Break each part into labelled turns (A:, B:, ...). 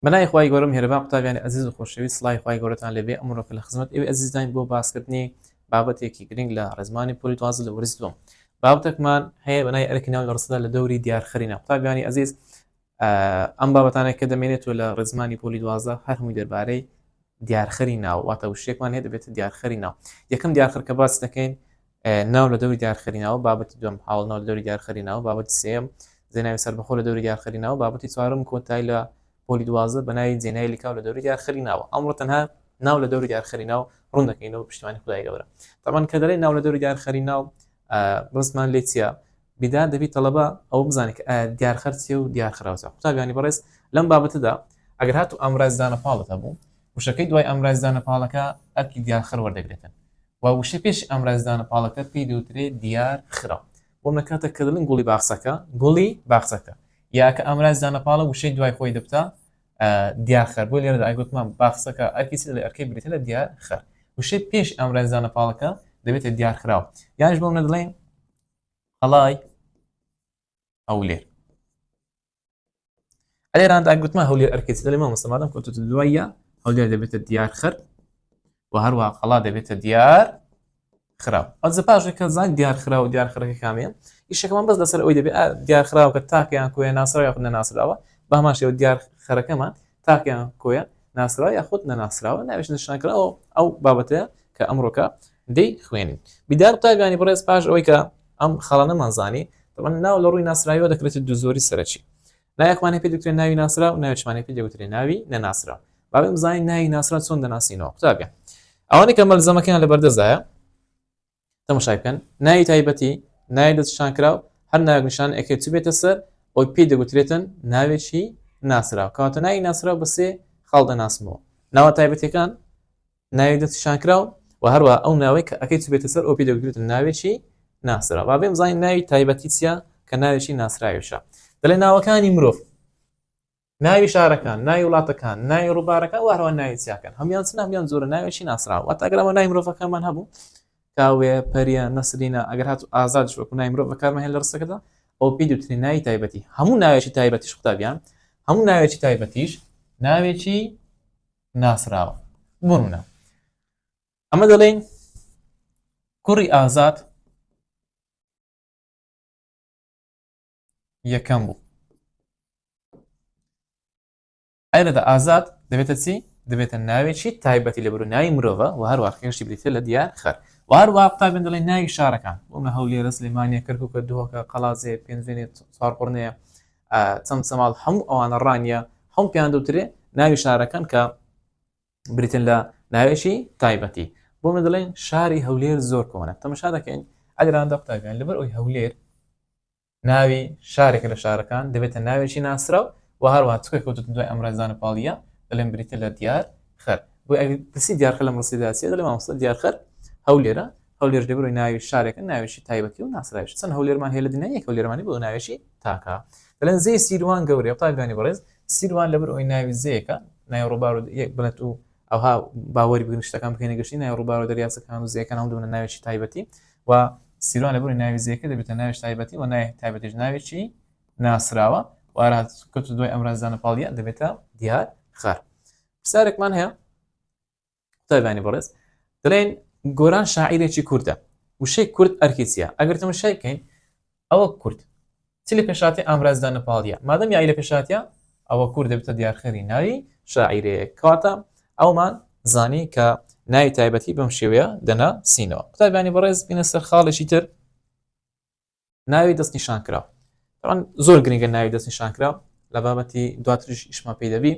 A: بەناوی خوای گەورە میهرەبان قوتابیانی ئەزیز و خۆشەویست سڵاوی خوای گەورەتان لێبێ ئەمڕۆکە لە خزمەت ئێوەی ئەزیزداین بۆ باسکردنی بابەتێکی گرنگ لە ڕێزمانی پۆلی دوازە لە وەرز دووەم بابەتەکمان هەیە بەنای ئەرکی ناو لە ڕستەدا لە دەوری دیارخەرینە قوتابیانی ئەزیز ئەم بابەتانێک کە دەمێنێتەوە لە ڕێزمانی پۆلی دوازە هەر هەمووی دەربارەی دیارخەری ناو واتە وشێکمان هەیە دەبێتە دیارخەری ناو یەکەم دیارخەر کە باس دەکەین ناو لە دەوری دیارخەری ناوە بابەتی دوم حاڵ ناو لە دەوری دیارخەری ناوە بابەتی سێم زێناوی سەربەخۆ لە دەوری دیارخەری ناوە بابەتی چوارم کۆتای لە پۆلی دوازە بەناوی جێنای لیکاو لە دەوری دیارخەری ناوە ئەمڕۆ تەنها ناو لە دەوری دیارخەری ناو ڕوون دەکەینەوە پشتیوانی خدای گەورە تاوان کە دەڵێ ناو لە دەوری دیارخەری ناو ڕزمان لێ چیە بیدار دەبی تەڵەبە ئەوە بزانێت کە ئایا دیارخەر چیە و دیار خراوچە قوتابیانی بەڕێز لەم بابەتەدا ئەگەر هات و ئامرازدانە پاڵت هەبوو وشەکەی دوای ئامرازدانە پاڵەکە ئەرکی دیارخەر وەردەگرێتن و وشە پێش ئامرازدانە پاڵەکە پێی دەوترێ دیار خراو بۆ نەکاتە کە دڵن گوڵی باخسەکە گوڵی باخسەکە یاکە ئامرازدانە پاڵە وشەی دوای خۆی دەبتا دیارخەر بۆ لێرە ئایگوتمان باخسەکە ئەرکی لە ئەرکەی بریتە لە دیار خەر وشەی پێش ئامرازدانە پاڵەکە دەبێتە دیارخراو یانش بۆم نەدڵێن قەڵای هەولێر ئەلێراندا گوتمە هەولێر ئەرکێت لە مە مەسەمادەم کۆتە دوایە هەولێر دەبێتە دیار خەر و هەروە قەڵا دەبێتە دیار خراو ئەزە پاشێک کە زان دیار خرا و دیار خەرەکە کامیان ئیشەکەمان بەس لەسەر ئەوی دەبێت دیار خراوکە تاکەیان کوێ ناسرا یاخود نەناسراوە باماشەوە دیار خەرەکەمان تاکەیان کۆیە ناسرا یاخود نەناسراوە ناوێش نیشانکراوە ئەو بابەتەیە کە ئەمڕۆکە دەی خوێنین بیدار قوتابیانی بەڕێز پاش ئەوەی کە ئەم خاڵانەمان زانی دەڵەن ناو لە ڕووی ناسراویەوە دەکرێتە دوو زۆری سەرەکی نایەکمانە پێ دەکرێت ناوی ناسرا و ناوچمانە پێ دەوترێ ناوی نەناسرا باێ بزانین ناوی ناسرا چۆن دەناسینەوە قوتابە ئەوانەی کە مەلزەمەکەیان لە بەردەزایە تەمەشای بکەن ناوی تایبەتی ناوی دەستشان کرا و هەر ناوگەشان ئەکێ چ بێتە سەر ئەوی پێی دەگوترێتن ناوێکی ناسرا کاتە ناوی ناسرا بەسێ خاڵ دەناسمەوە ناوە تایبەتەکان ناوێک دەست شان کراو و هەروە ئەو ناوەی کە ئەەکەی چبێتە سەر ئۆپی دەگوترێت ناوێکی ناسرا با بێم زانین ناوی تایبەتی چیە کە ناوێکی ناسراویشە دەڵێ ناوەکانی مرۆڤ ناوی شارەکان ناوی وڵاتەکان ناوی ڕووبارەکە وارەوە ناوی چیاکەن هەمیان چ نامیان زۆرە ناوێکی ناسراوە واتاگەرەوە نای مرۆڤەکەمان هەبوو کاوێ پەریە نەسرینە ئەگەر هات ئازاد شوەکو نای مرۆڤ بەکارمە هێن لە ڕستەکەدا ئەو پێ دوترین ناوی تایبەتی هەموو ناوێکی تایبەتیش قوتابیان هەموو ناوێکی تایبەتیش ناوێکی ناسراوە بۆ منە ئەمە دەڵێن کوڕی ئازاد یەکەم بوو ئەرەدا ئازاد دەبێتە چی دەبێتە ناوێکی تایبەتی لە بروناوی مرۆڤە و هەروە خێشتی بریتە لە دیار خەر وار وا قوتابێن دەڵێ ناوی شارەکان بۆمە هەولێرە سلێمانە کەرککە دۆکە قەڵازێ پێنجێنێ چوارقڕنەیە چەمچەماڵ هەموو ئەوانە ڕانیە هەم پێیان دوترێ ناوی شارەکان کە بریتن لە ناوێکی تایبەتی بۆ من دەڵێن شاری هەولێر زۆر کۆنە تەمەشا دەکەین ئەگراندا قوتابیان لەبەر ئەوی هەولێر ناوی شارێک لە شارەکان دەبێتە ناوێکی ناسراو و هەروە چکە کەوتت دوای ئەمرازانە پاڵیە دەڵێن بریتە لە دیار خەر بۆ ئەگەر پرسی دیارخە لە مەسیداسی دەڵێ مامۆستا دیارخەر هەولێرە هەولێر جێگری ناوی شارێکە ناوێکی تایبەتی و ناسراویش چەند هەولێرمان هەیە لە دنیا یەک هەولێرمانی بۆ ناوێکی تاکە دەڵێن زێی سیروان گەورەیە قوتابیانی بەڕێز سیروان لەبەر ئەوی ناوی زێکە ناوی ڕووبار و یەک بنەت و ئەوها باوەری بگرن شتەکان بکەینە گەشتی ناوی ڕووبار و دەریاچەکان و زێکان هەم دوونە ناوێکی تایبەتی و سیروان لەبەر ناوی زێکە دەبێتە ناوی تایبەتی و ناوی تایبەتیش ناوێکی ناسراوە وارات کەوت دوای ئەمرازدانە پاڵیە دەبێتە دیار خار پرسیارێکمان هەیە قوتابیانی بەڕێز دەڵێن گۆران شاعیرێکی کوردە وشەی کورد ئەرکی چیە ئەگەر تەمەشای بکەین ئەوە کورد چ لە پێشاتی ئامرازدا نەپاڵە مادەم یای لە پێشاتە ئەوە کورد دەبتە دیارخێری ناوی شاعیرێ کاتە ئەومان زانی کە ناوی تایبەتی بەم شێوەیە دەنا سینەوە قوتابیانی بەڕێز بینە سەر خاڵێکی تر ناوی دەست نیشان کرا تاوان زۆر گرنگە ناوی دەست نیشان کرا لە بابەتی دواتریش ئیشمان پێی دەبی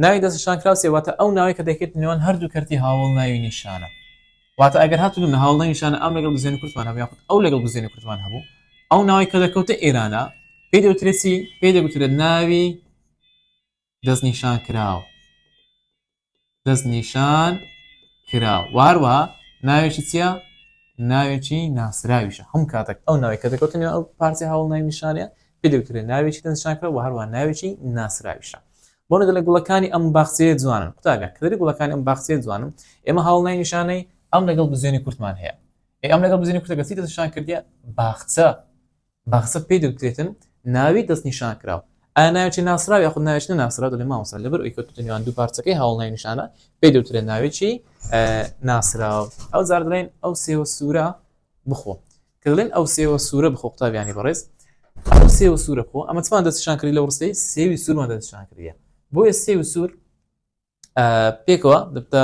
A: ناوی دەست نیشان کرا سێواتە ئەو ناوی کە دەکرێت نێوان هەردوو کەرتی هاوڵ ناوی نیشانە واتە ئەگەر هاتون لە هاوڵ نیشانە ئەم لەگەڵ بزێن کوردمان هەبوو یاخود ئەو لەگەڵ بزێنی کوردمان هەبوو ئەو ناوی کە دەکەوتە ئێرانە پێی دەوترێتی پێی دەگوترێت ناوی دەست نیشان کراو دەست نیشان کراو واروا ناوێکی چییە ناوێکی ناسراویشە هەم کاتێک ئەو ناوی کە دەکەوتنی ئەو پارتی هەوڵ ناوی نیشانە پێ دەوترێت ناوێکی دەستشان کرا و هەروە ناوێکی ناسراویشە بۆ نەدە لە گوڵەکانی ئەم باخچەیە جوانن قوتابە کەدەری گوڵەکانی ئەم باخچەیە جوانم ئێمە هەوڵ نای نیشانەی ئەم لەگەڵ بزیێنی کورتمان هەیە ئەم لەگەڵ بزیێنی کورتەکەسی دەستشان کردە باخچە مەغزەک پێی دەوترێتن ناوی دەستنیشانکراو، ئایا ناوێکی ناسراو یاخود ناوێکی نەناسراو؟ دەڵێ مامۆستا لەبەر ئەوی کەوتووتە نێوان دوو پارچەکەی هاوڵ ناوی نیشانە پێی دەوترێت ناوێکی ناسراو ئەو جار دەڵێن ئەو سێوە سوورە بخۆ کە دەڵێن ئەو سێوە سوورە بخۆ قوتابیانی بەڕێز ئەو سێوە سوورە بخۆ ئەمە چمان دەستشان کردی لە وڕستی سێوی سوورمان دەستشان کردە بۆیە سێوی سوور پێکەوە دەبتە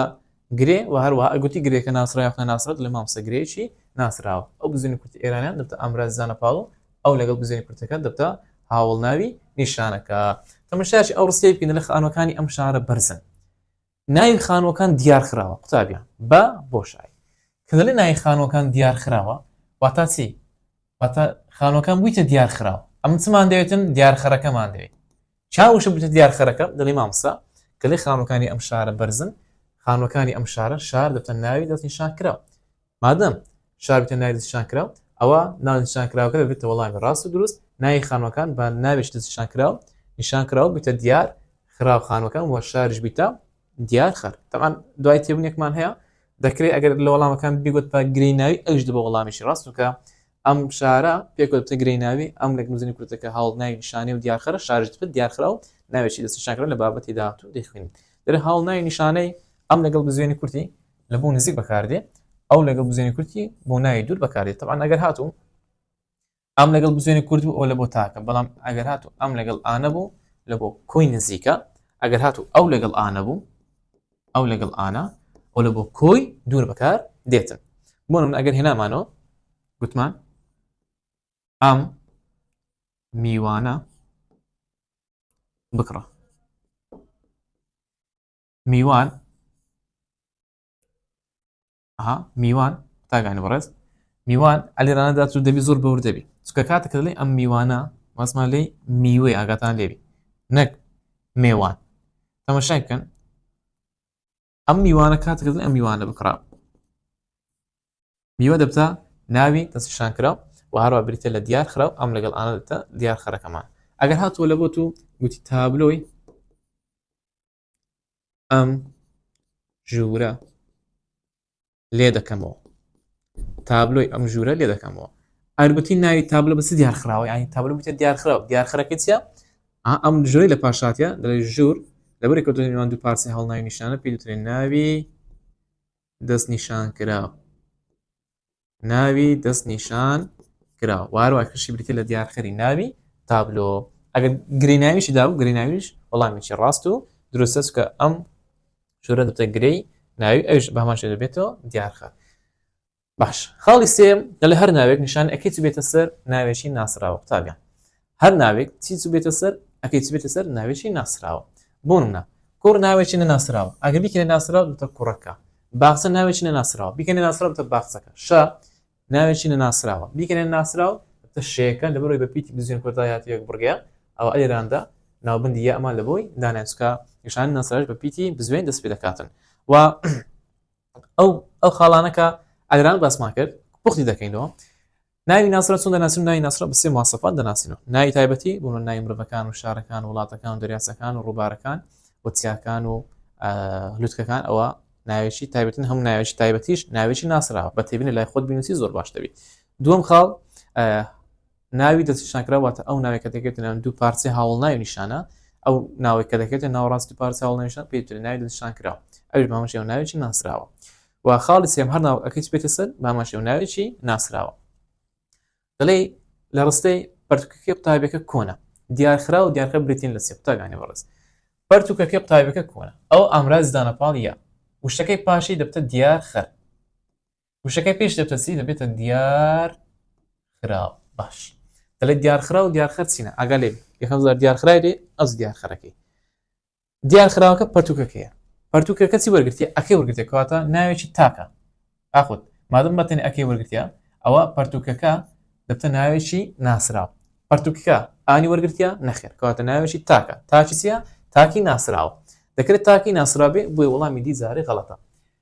A: گرێ و هەروە ئەگوتی گرێکە ناسراوە خە ناسرەت لە مامسە گرێکی ناسراوە ئەو بزنی کورتی ئێرانیان دەبتە ئامراز زانە پاڵو ئەو لەگەڵ بزنی کورتەکە دەبتە هاوڵ ناوی نیشانەکە تەمەشاش ئەو ڕستی بکەن لە خانەکانی ئەم شارە بەرزن ناوی خانوەکان دیار خراوە قوتابیان بە بۆشایی کە لە ناوی خانوەکان دیار خراوە واتا چی واتا خانوەکان بوویتە دیار خراوە ئەم چمان دەوێتن دیارخەرەکەمان دەوێت چاوشم بچێت دیار خەرەکە دەڵی مامۆستا کەلێ خانوەکانی ئەم شارە بەرزن خانوەکانی ئەم شارە شار دەتە ناوی دەست نیشان کرا مادەم شاربتە ناوی دەستشان کرا ئەوە ناونشان کراوەکە دەبێتە وەڵامی ڕاست و دروست ناوی خانوەکان بە ناوێش دەستشان کرا نیشان کراوە بتە دیار خراو خانوەکان وە شارش بیتە دیار خەر تەمان دوای تێبنێکمان هەیە دەکرێت ئەگەر لە وەڵامەکان بگوت پا گرێ ناوی ئەوش دە بە وەڵامیشی ڕاستوکە ئەم شارە پێک وەدەتە گرێی ناوی ئەم لێکنوزنی کورتە کە هاوڵ ناوی نیشانەی و دیارخەرە شارژ دپت دیارخرا و ناوێکی دەست نیشانکرا لە بابەتی داهاتوو دەیخوێنین دەرێ هاوڵ ناوی نیشانەی ئەم لەگەڵ بزوێنی کورتی لە بۆ نزیک بەکاردێ ئەو لەگەڵ بزوێنی کورتی بۆ ناوی دوور بەکاردێت تەبان ئەگەر هاتوو ئەم لەگەڵ بزوێنی کورد بوو ئەو لە بۆ تاکە بەڵام ئەگەر هاتوو ئەم لەگەڵ ئانە بوو لە بۆ کۆی نزیکە ئەگەر هاتوو ئەو لەگەڵ ئانە بوو ئەو لەگەڵ ئانا ئەو لە بۆ کۆی دوور بەکار دێتن بۆ من ئەگەر هێنامانەوە گوتمان ئەم میوانە بکڕە میوان ئەها میوان تاگانی بەڕێز میوان ئەلیرانە دات و دەبی زۆر بەور دەبی چکە کاتە کردڵی ئەم میوانە ماسما لی میوەی ئاگاتان لێبی نەک مێوان تەمەشای بکەن ئەم میوانە کات کردن ئەم میوانە بکڕا میوە دەبتە ناوی دەستشان کرا و هەروە بریتە لە دیار خراو ئەم لەگەڵ ئاە دەبتە دیار خەرەکەمان ئەگەر هاتووە لە بۆت و گوتی تابلۆی ئەم ژوورە لێ دەکەمەوە تابلۆی ئەم ژوورە لێ دەکەمەوە ئەرگوتی ناوی تابلو بەس دیارخراوە ینی تابلو بتە دیارخراو دیارخەرەکە چە ئەم ژۆری لە پاشاتە دەڵێ ژوور لەبەر کەوتنیوان دوو پارسی هەڵناوی نیشانە پێ دوترێن ناوی دەست نیشان کرا ناوی دەست نیشان کرا واروا کشی بریتە لە دیارخەری ناوی تابلۆ ئەگەر گریناویشی دا و گریناویش وەڵامیی ڕاست و دروستە چکە ئەم شورە دەتە گرەی ناوی ئەوش بەماشێ دەبێتەوە دیارخە باش خاڵی سێم لە هەر ناوێک نیشان ئەکەیت بێتە سەر ناوێکی ناسراوە قوتابیان هەر ناوێک چی چ بێتە سەر ئەکەی چ بێتە سەر ناوێکی ناسراوە بۆ نمونە کوڕ ناوێکی نەناسراوە ئەگەر بیکەێ ناسراو بتە کوڕەکە باخچە ناوێکی نەناسراوە بیکەێ ناسراو بتە باخچەکە شە ناوێکی نەناسراوە بیکەێ ناسراو بتە شەیەەکە لە بەرەوەی بە پیتی بزیێن کۆتایاتی یەک بڕگەیە ئەو ئەێراندا ناوبندی یە ئەمان لە بۆی دانانچکە نیشان ناسراش بە پیتی بزوێن دەست پێ دەکاتن و ئەو ئەو خاڵانە کە ئەگران باسمان کرد پوختی دەکەینەوە ناوی ناسرە چون دەناسن ناوی ناسرە بەسێ ماسەفات دەناسینەوە ناوی تایبەتی بوون ناوی مرۆڤەکان و شارەکان و وڵاتەکان و دەریاسەکان و ڕووبارەکان و چیاکان و لوتکەکان ئەوە ناوێکی تایبەتن هەم ناوێکی تایبەتیش ناوێکی ناسراوە بە تێبینە لای خۆت بینوسی زۆر باش دەبیت دوم خاڵ ناوی دەستنیشانکراو واتە ئەو ناوێک کە دەکرێتە ناو دوو پارچەی هاوڵناوی نیشانە ئەو ناوێک کە دەکرێتە ناوەڕاست دوو پارچە هاوڵناوی نیشان پێی وترێ ناوی دەستنیشانکراو ئەویش بە هەمەشێوە ناوێکی ناسراوە و خاڵی سێم هەر ناوەکەی بێتە سەر بە هەمەشێوە ناوێکی ناسراوە دەڵێ لە ڕستەی پرتوکەکەی قوتابەکە کۆنە دیارخرا و دیارخە بریتین لە سێ قوتابیانی بەڕێز پرتوکەکەی قوتابەکە کۆنە ئەو ئامراز دانەپاڵ یا وشەکەی پاشی دەبتە دیار خەر وشەکەی پێش دەپرسی دەبێتە دیار خراو باش دەڵێت دیارخرا و دیارخەر چینە ئاگا لێ یەکەم زار دیارخرای دێ ئەز دیارخەرەکەی دیارخراوەکە پەرتوکەکەیە پەرتوکە کەسی وەرگرتیە ئەکەی وەرگرتێک کەواتە ناوێکی تاکە ئاخود مادەم بەتەن ئەکەی وەرگتیا ئەوە پەرتوکەکە دەبتە ناوێکی ناسراو پەرتوکەکە ئانی وەرگتیا نەخێر کەواتە ناوێکی تاکە تاچیە تاکی ناسراوە دەکرێت تاکی ناسرابێ بۆی وڵامی دیزاری غڵەتە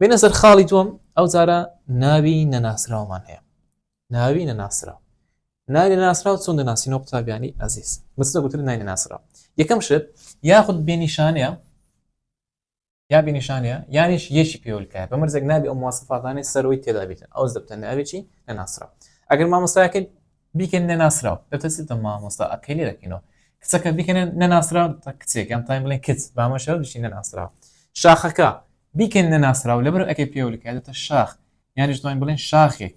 A: بێنە سەر خاڵی دووەم ئەو جارە ناوی نەناسراومان هەیە ناوی نەناسراو ناوی نەناسراو چۆن دەناسینەوە قوتابیانی ئازیز مستە گوتر ناوی نەناسراو یەکەم شت یاخود بێنیشانەیە یا بینیشانە یانیش یەکی پێولکە بە مرزێک نابی ئەو موواسفاتانی سەرۆی تێدابێتن ئەو دەبتە ناوێکی نەناسرا ئەگەر مامۆستایەکەی بیکەن نەناسراو دەتەسیتە مامۆستا ئەکەی لێ دەکەینەوە کچەکە بیکەنە نەناسراو تا کچێک یان تایم بڵێن کچ بامەشەوە بشی نەناسراو شاخەکە بیکەن نەناسراو لەبەر ئەکەی پێولکاتێتە شاخ یانیش تایم بڵێن شاخێک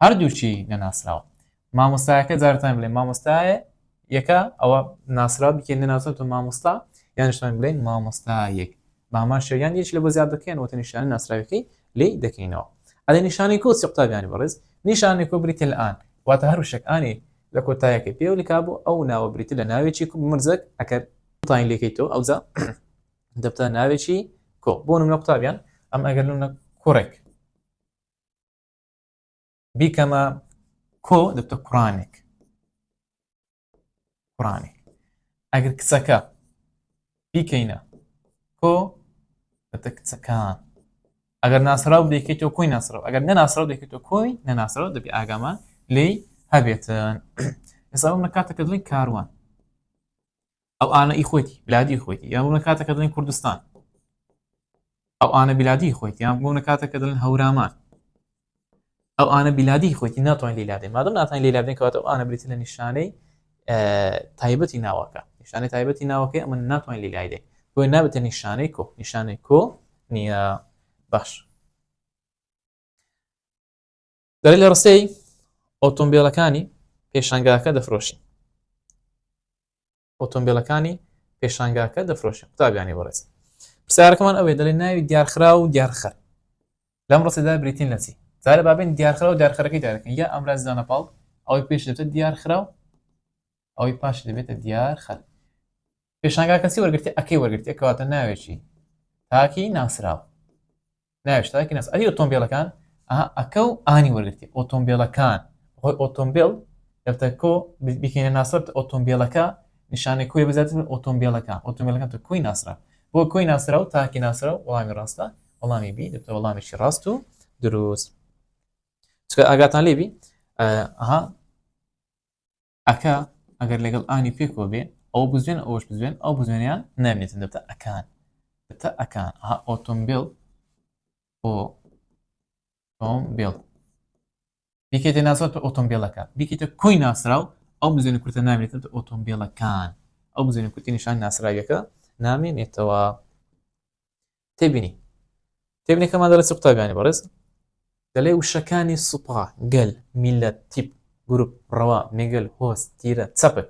A: هەردووچی نەناسراوە مامۆستایەکە جارتان بڵێ مامۆستایە یەکە ئەوە ناسرا بکێن نەناسەوە مامۆستا یانشتان بڵێن مامۆستایەک مامان شەریان یەک لە بۆ زیاد دەکەین وەتە نیشانەی ناسراویەکەی لێی دەکەینەوە ئەدە نیشانەی کۆ چی قوتابیانی بەڕێز نیشانەی کۆ بریتە لە ئان واتە هەر وشەک ئانی لە کۆتایەکەی پێوە لکا بۆ ئەو ناوە بریتە لە ناوێکی کوب مرزەک ئەکەر قوتانی لێکەی تۆ ئەوجا دەبتە ناوێکی کۆ بۆ نمە قوتابیان ئەم ئەگەر نمە کوڕێک بیکەمە کۆ دەبتە کوڕانێک کوڕانی ئەگەر کچەکە بیکەینە کۆ بەتە کچەکان ئەگەر ناسرااو دەکەیتەوە کۆی ناسرااو ئەگەر نەناسرااو دەکەێتەوە کۆی نەناسرااو دەبی ئاگامان لی هەبێتن ئێستا بم لە کاتەکە دڵی کاروان ئەو ئاە ئی خۆیتی بلادی خۆیتی یان بوون لە کاتەکە دڵین کوردستان ئەو ئاە بلادی خۆیت یان بوون لە کاتەکە دڵن هەورامان ئەو ئاە بیلادی خۆیتی ناتوان لیلادێ مادەم ناتان لیلادێن کەواتە ئەو ئاە بریتە لە نیشانەی تایبەتی ناوەکە نیشانەی تایبەتی ناوەکەی ئەمە ناتوان لیلایدێ بۆی نابێتە نیشانەی کۆ نیشانەی کۆ نییە باش دەری لە ڕستەی ئۆتۆمبیلەکانی پێشانگاکە دەفرۆشی ئۆتۆمبیلەکانی پێشانگاکە دەفرۆشن قوتابیانی بەڕێز پرسیارەکەمان ئەوێ دەڵێن ناوی دیارخرا و دیارخەر لەم ڕستێدا بریتین نەچی زارە بابین دیارخرا و دیارخەرەکەی دارەکەن یا ئەمراز دانە پاڵ ئەوەی پێش دەبێت دیارخرا و ئەوەی پاش دەبێتە دیارخەر پێشانگا کەسی وەرگرتی ئەکەی وەرگرتی کەواتە ناوێکی تاکی ناسراوە ناوی شتاکی ناس ئەری ئۆتۆمبیلەکان ئەکە و ئانی وەرگرتی ئۆتۆمبیلەکان خۆی ئۆتۆمبیل دەبتە کۆ بکەینە ناسرت ئۆتۆمبیلەکە نیشانەی کوی بزات من ئۆتۆمبیلەکە ئۆتۆمبیلەکە تر کوی ناسرا بۆ کوی ناسرا و تاکی ناسرا و وڵامی ڕاستە وڵامی بی دەبتە وڵامیشی ڕاست و دروست چکە ئاگاتان لێبی ئەها ئەکا ئەگەر لەگەڵ ئانی پێکەوە بێ ئەو بزوێن ئەوش بزوێن ئەو بزوێنیان نامێتن دەبتە ئەکان دەبتە ئەکان ها ئۆتۆمبیل بۆ ئۆتۆمبیل یەکێتە ناسرا تۆ ئۆتۆمبیلەکە بکیتە کۆی ناسراو ئەو بزێنە کورتە نامێتن تە ئۆتۆمبیلەکان ئەو بزێنە کورتی نیشان ناسراویەکە نامێنێتەوە تێبینی تێبینەکەمان دەڵێ چ قوتابیانی بەڕێز دەلێ وشەکانی سوپا گەل میلەت تیپ گروپ ڕەوا مێگەل هۆست تیرە چەپک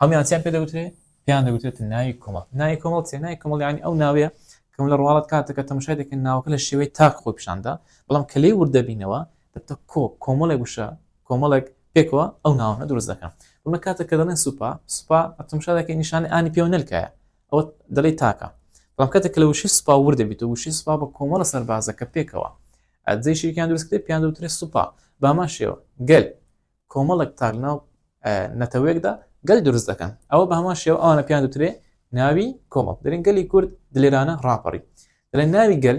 A: هەمیان چیان پێ دەوترێ پێیان دەوتێت ناوی کۆمەڵ ناوی کۆمەڵ چێ ناوی کۆمەڵیانی ئەو ناوەیە کەم لە ڕواڵەت کاتەکە تەمشای دەکەن ناوەکە لە شێوەی تاک خۆی پیشاندا بەڵام کە لێ وردەبینەوە دەبتە کۆ کۆمەڵێک وشە کۆمەڵێک پێکەوە ئەو ناوانە دروست دەکەن بمە کاتە کە دەڵێن سوپا سوپا ئەتمشا دەکەی نیشانە ئانی پێوە نەلکایە ئەوە دەڵی تاکە بەڵام کاتێک لە وشی سوپا ور دەبیت و وشی سوپا بە کۆمەڵە سەربازەکە پێکەوە ئەدزەی شیرکان دروستکرێ پیان دوترێ سوپا بامان شێوە گەل کۆمەڵک تاک ناو نەتەوەیەکدا گەل دروست دەکەن ئەوە بە هەمان شێوە ئەوانە پیان دوترێ ناوی کۆمەڵ دەرین گەلی کورد دلێرانە ڕاپەڕی دەڵێن ناوی گەل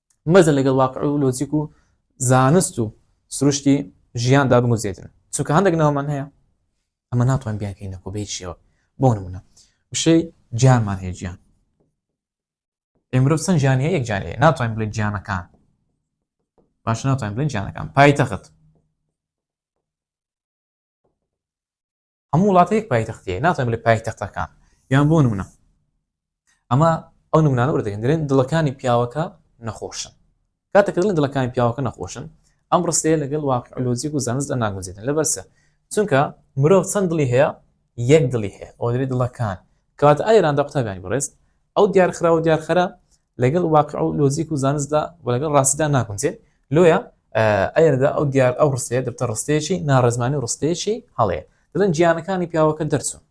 A: مەزە لەگەڵ واقع و لۆجیک و زانست و سروشتی ژیاندا بگوزێتن چونکە هەندێک ناومان هەیە ئەمە ناتوان بیانکەین نەکۆ بێت شێوە بۆ نمونە وشەی جانمان هەیە گیان ئێمرۆ چەند جیانی هەیە جیان هەیە ناتوانین بڵێن جیانەکان باش ناتوانین بڵێن جیانەکان پایتەخت هەموو وڵاتە یەک پایتەختەیە ناتوان بڵێ پایتەختەکان یان بۆ نمونە ئەمە ئەو نمونانە وردەکەن دەێن دڵەکانی پیاوەکە نەخۆشن کاتەکردن دڵەکانی پیاوەکە نەخۆشن ئەم ڕستەیە لەگەڵ واقعلۆجیک و زانست ناگوزێتن لەبەرسە چونکە مرۆڤ چەند دڵی هەیە یەک دڵی هەیە ئەو دەێت دڵەکان کەواتە ئایراندا قوتابیانی بڕێست ئەو دیارخرا و دیارخەرە لەگەڵ واقع و لۆجیک و زانستدا و لەگەڵ ڕاستیدا ناگونجێت لۆیە ئەردا ئەو دیار ئەو ڕستەیە دەبتە ڕستەیەکی ناڕێزمانی ڕستەیەکی هەڵەیە دەڵێن گیانەکانی پیاوەکە دەرچوون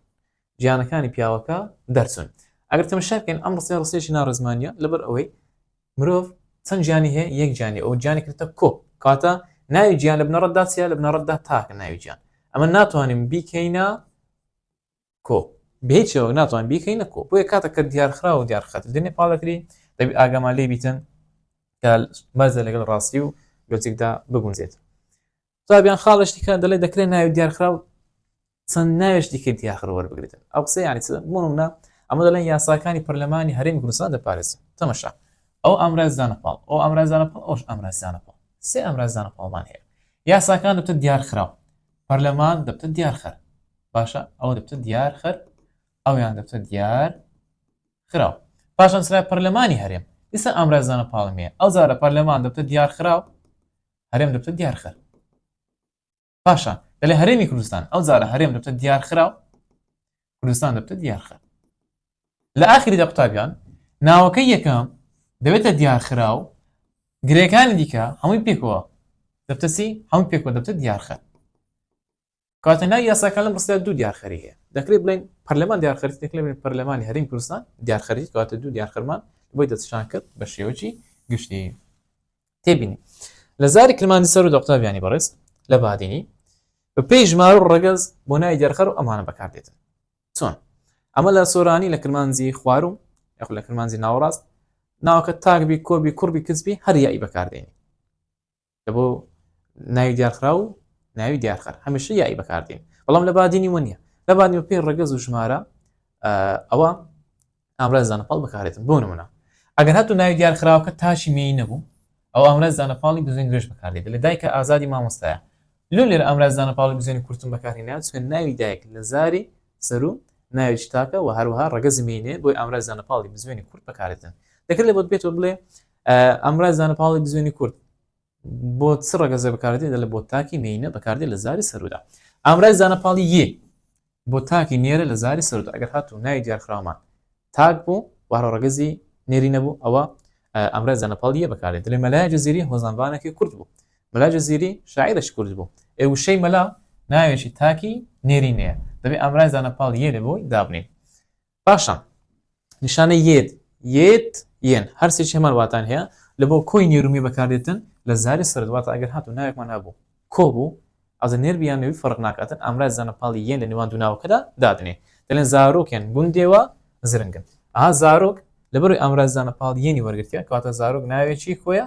A: گیانەکانی پیاوەکە دەرچوون ئەگەر تەمەشاکەین ئەم ڕستەیە ڕستێکی ناڕێزمانە لەبەر ئەوەی مرۆڤ چەند گیانی هەیە یەک گیانی ئەو گیانی کردە کۆ کاتە ناوی گیان لە بنەڕەتدا چیە لە بنەڕەتدا تاکە ناوی گیان ئەمە ناتوانین بیکەینە کۆ بێ چێوەک ناتوان بیکەینە کۆ بۆیە کاتە کە دیارخرا و دیارخەت دێنێ پاڵەکری دەبی ئاگامان لێ بیتن بەزە لەگەڵ ڕاستی و لۆجیکدا بگونجێت تابیان خاڵشتی کە دەڵێ دەکرێت ناوی دیارخرا و چەند ناوێشتی کە دیاخر وەربگرێتن ئەو قسە ینی منە ئەمە دەڵێن یاساکانی پەرلەمانی هەرێمی کوردستان دەپارێز تەمەشا ئەو ئامرازدانە پاڵ ئەو ئامرازانە پاڵ ئەوش ئامرازدانە پاڵ سێ ئامرازدانە پاڵمان هەیە یاساکان دەبتە دیارخراو پەرلەمان دەبتە دیارخەر باشە ئەوە دەبتە دیار خەر ئەویان دەبتە دیار خراو پاشان سرای پەرلەمانی هەرێم ئیسا ئامرازانە پاڵمێ ئەو زارە پەرلەمان دەبتە دیار خراو هەرێم دەبتە دیار خەر پاشان دەلێ هەرێمی کوردستان ئەو زارە هەرێم دەبتە دیار خراو کوردستان دەبتە دیار خەر لە ئاخری دە قوتابیان ناوەکە یەکەم دەبێتە دیار خراو گرێکانی دیکە هەمووی پێکەوە دەبتەسی هەموو پێکەوە دەبتە دیار خەر کاتە ناوی یاساکە لەم ڕستەدا دوو دیارخەری هەیە دەکرێت بڵێن پەرلەمان دیارخەری دەکرێت بڵێن پەرلەمانی هەرێمی کوردستان دیارخەری کاتە دوو دیارخەرمان بۆی دەچشان کرد بە شێوەی گشتی تێبینی لە زاری کرمانجی سەر و دەقتابیانی بەڕێز لە بادینی بە پێی ژمار و ڕەگەز بۆ نای دیارخەر و ئەمانە بەکاردێتن چۆن ئەمە لە سۆرانی لە کرمانجی خواروم یاخ لە کرمانجی ناوەڕاست ناوکە تاکبی کۆبی کوڕبی کچبی هەر یایی بەکاردێنی لەبۆ ناوی دیارخرا و ناوی دیارخەر هەمیشە یایی بەکاردین بەڵام لە بادینی وە نیە لە بادنی پێی ڕگەز و ژمارە ئەوە ئامرازدانە پاڵ بەکارێتن بۆ نمونە ئەگەر هاتو ناوی دیارخراوەکە تاشی مێی نەبوو ئەو ئامرازدانە پاڵی بزوێن گرێش بەکاردێت لە دایکە ئازادی مامۆستایە لۆ لێر ئامرازدانە پاڵی بزوێنی کورتم بەکارهێنات چون ناوی دایک لە زاری سەرو ناوی شتاکە و هەروەها ڕگەزی مینێ بۆی ئامرازدانە پاڵی بزوێنی کورت بەکارێتن دەکرێت بۆت بێتەوە بڵێ ئەمڕای زانە پاڵی بزوێنی کورد بۆ چ ڕگەزە بەکاردێت لە بۆ تاکی مینە بەکاردێت لە زاری سەرودا ئامرای زانە پاڵی یە بۆ تاکی نێرە لە زاری سەردا ئەگەر هات و ناوی دیارخرامان تاک بوو وارە ڕگەزی نێری نەبوو ئەوە ئەمرای زانە پاڵی یە بەکارێت دەێ مەلای جززیری هۆزانبانەکەی کورد بوو مەلا جززیری شاعرش کورد بوو ئێ وشەی مەلا ناوێکی تاکی نێری نەیە دەبێ ئامرای زانە پاڵ یێنێ بۆی دابنین باشە نیشانە یێت یێت یێن هەرسێکی هەمان واتان هەیە لە بۆ کۆی نێرومی بەکاردێتن لە زاری سرد واتە ئەگەر هاتو ناوێکمان هەبوو کۆ بوو ئەزە نێر بیان نوێی فەرق ناکاتن ئامراز زانە پاڵی یەن لە نێوان دووناوەکەدا دادنێ دەلێن زارۆکێن گوندێوە زرنگن ئا زارۆک لەبەروی ئامراز زانە پاڵ یەنی وەرگتیە کاتە زارۆک ناوێکی کۆیە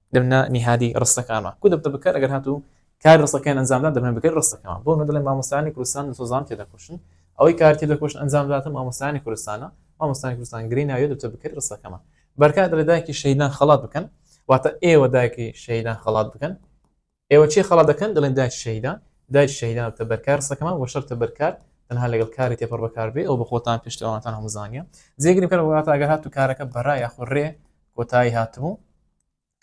A: دەمنە نیهادی ڕستەکانمان کو دەبتە بکەر ئەگەر هاتو کاری ڕستەکەیان ئەنجامدا دەبنە بکەری ڕستەکەمان بۆ ئەمە دەڵێن مامۆستایانی کوردستان لە سۆزان تێدەکۆشن ئەوەی کار تێدەکۆشن ئەنجام دەداتە مامۆستایانی کوردستانە مامۆستایانی کوردستان گرێی ناویە دەبتە بکەری ڕستەکەمان بەرکات دەڵێ دایکی شەهیدان خەڵات بکەن واتە ئێوە دایکی شەهیدان خەڵات بکەن ئێوە چێ خەڵات دەکەن دەڵێن داعش شەهیدان داعش شەهیدان و تەبەرکار ڕستەکەمان بۆ شەر تەبەرکار تەنها لەگەڵ کاری تێپەڕ بەکار بێ ئەو بە خۆتان پێشتر ئەوانتان هەموو زانیە جێگری بکەن وڵاتە ئەگەر هاتو کارەکە بەرا یاخۆ ڕێ کۆتایی هاتبوو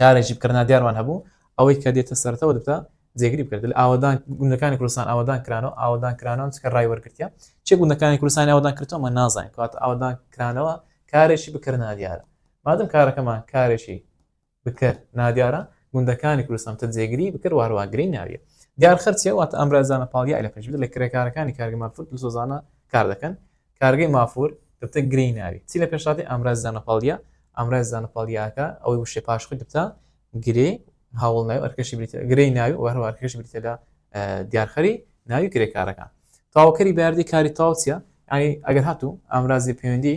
A: کارێکی بکردنا دیارمان هەبوو ئەوەی کە دێتە سەرەوە دەبتە جێگری بکرد لە ئاوادان گوندەکانی کوردستان ئاوادان کرانەوە ئاوادان کرانەوە چکە ڕای وەرگرتە چێ گوندەکانی کوردستانی ئاوادان کردەوە نازانین کات ئاوادان کرانەوە کارێکی بکردنا دیارە مادەم کارەکەمان کارێکی بکەر، نادیارە، گوندەکانی کوردستان تە جێگری بکەر وهەروەها گرێی ناویە. دیار خەرچیە واتە ئامرازانە پاڵیای لە پێش بدە لە کرێکارەکانی کارگە مافور دلسۆزانە کار دەکەن کارگەی مافور دەبتە گرێی ناوی چی لە پێشاتی ئامراز زانە پاڵیا ئامراز زانە پاڵیاکە ئەوەی وشێ پاش خۆی دەبتە گرێ هاوڵ ناوی ئەرکەشی بریتە گرێی ناوی وهەروە ئەرکەشی بریتە لە دیارخەری ناوی کرێکارەکان تاوکەری باردی کاری تاوچە ینی ئەگەر هاتوو ئامرازی پەیوەندی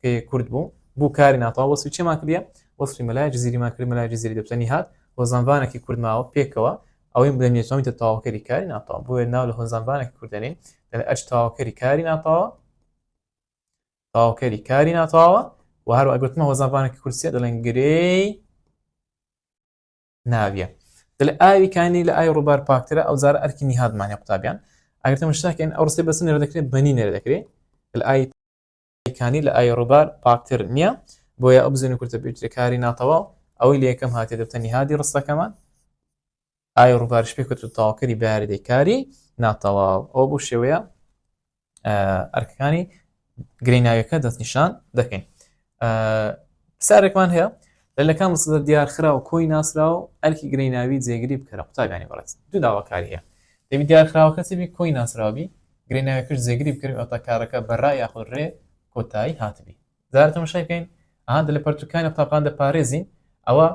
A: کە یە کورد بوو بوو کاری ناتەواو وەسفی چێمان کردیە وەسفی مەلای جزیریمان کرد مەلای جزیری دەبتە نیهاد و زەنڤانەکی کورد ماوە پێکەوە ئەوەی بڵێ نێچۆمیتە تەواوکەری کاری ناتەواو بۆیە ناو لە هۆنزانڤانەکی کوردەنین دەڵێ ئەچ تەواوکەری کاری ناتەواوە تەواوکەری کاری ناتەواوە و هەر ئەگوتمە هۆزانڤانەکی کورسیە دەڵێن گرێی ناویە دل ئاوی کانی لە ئای ڕووبار پاکترە ئەو زار ئەرکی نیهادمانە قوتابیان ئەگەر تەمەشتاکەن ئەو ڕستی بەسن نێرە دەکرێت بەنی نێرە دەکرێت ئای کانی لە ئای ڕوبار پاکتر نیە بۆیە ئەو بزن کورتە بێتە کاری ناتەواو ئەوەی لە یەکەم هاتی دەبتە نهادی ڕستەکەمان ئای ڕوبارش پێ کەوت تاواکەری بەیاردەی کاری ناتەواو ئەو بۆ شێوەیە ئەرکەکانی گرەی ناویەکە دەستنیشان دەکەین سارێکمان هەیە لە لەکان مسدە دیار خرا و کۆی ناسرا و ئەرکی گرەی ناوی جێگری بکەرە قوتابیانی بەڕێت دوو داواکاری هەیە دەبی دیار خراوەکە چبی کۆی ناسراوی گرێ ناوی پشت جێگری بکەین ئەوتا کارەکە بە ڕا یاخود ڕێ کۆتایی هاتبی جارە تەمەشای بکەین ئەها دە لە پەرتوکانی قوتابخان دەپارێزین ئەوە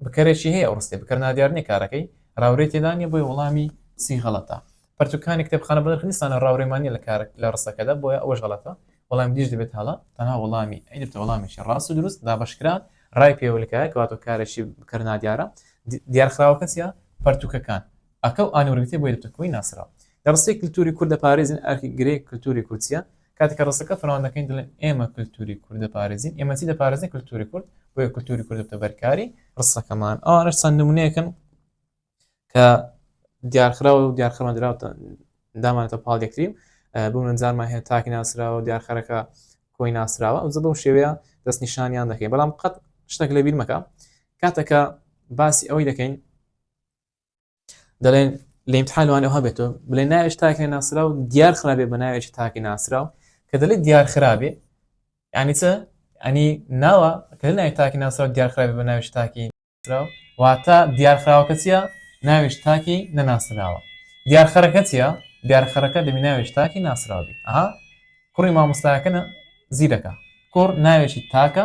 A: بکەرێکی هەیە ئەو ڕستێ بکەر نادیار نیە کارەکەی راورێ تێدا نیە بۆی وەڵامی سی غەڵەتە پەرتوکانی کتێبخانە بە نرخنیسانە راورێمانی لە کار لە ڕستەکەدا بۆیە ئەوەش غەڵەتە وەڵام دیش دەبێت هەڵە تەنها وەڵامی ئەیدرتە وەڵامێکی ڕاست و دروست دابشکرا ڕای پێوەلکایە کەواتۆ کارێکی بکەر نادیارە دیارخراوەکە چیە پەرتوکەکان ئەکە و ئانورگتێ بۆ یەکگرتووی ناسراو لە ڕستەی کلتوری کورد دەپارێزین ئەرکی گرێ کلتوری کورد چیە؟ کاتێک کە ڕستەکە فراوان دەکەین دەڵێن ئێمە کلتوری کورد دەپارێزین ئێمە چی دەپارێزین کلتوری کورد بۆیە کلتوری کورد دەبتە بەرکاری ڕستەکەمان ئەوانش چەند نمونەیەکن کە دیارخراوە و دیارخەمان دراوتە دامانێتە پاڵ یەکتری بمنجارمان هەیە تاکی ناسراوە دیارخەرەکە کۆی ناسراوە ئەو بەو شێوەیە دەست نیشانیان دەکەین بەڵام قەت شتێک لە بیرمەکە کاتەکە باسی ئەوەی دەکەین دەڵێن لە امتحان وانە ها بێتەوە بڵێ ناوێش تاکە ناسرا و دیار خراپێ بە ناوێکی تاکی ناسرا و کە دەڵێت دیار خراپێ ینی چە ئەنی ناوە کە ناوی تاکی ناسرا و دیار خراپێ بە ناوێش تاکی ناسرا و واتە دیار خراوەکە چیە ناوێش تاکی نەناسراوە دیار خەرەکە چیە دیار خەرەکە دەبی ناوێش تاکی ناسراوی ئەها کوڕی مامۆستاکەە زیرەکە کوڕ ناوێکی تاکە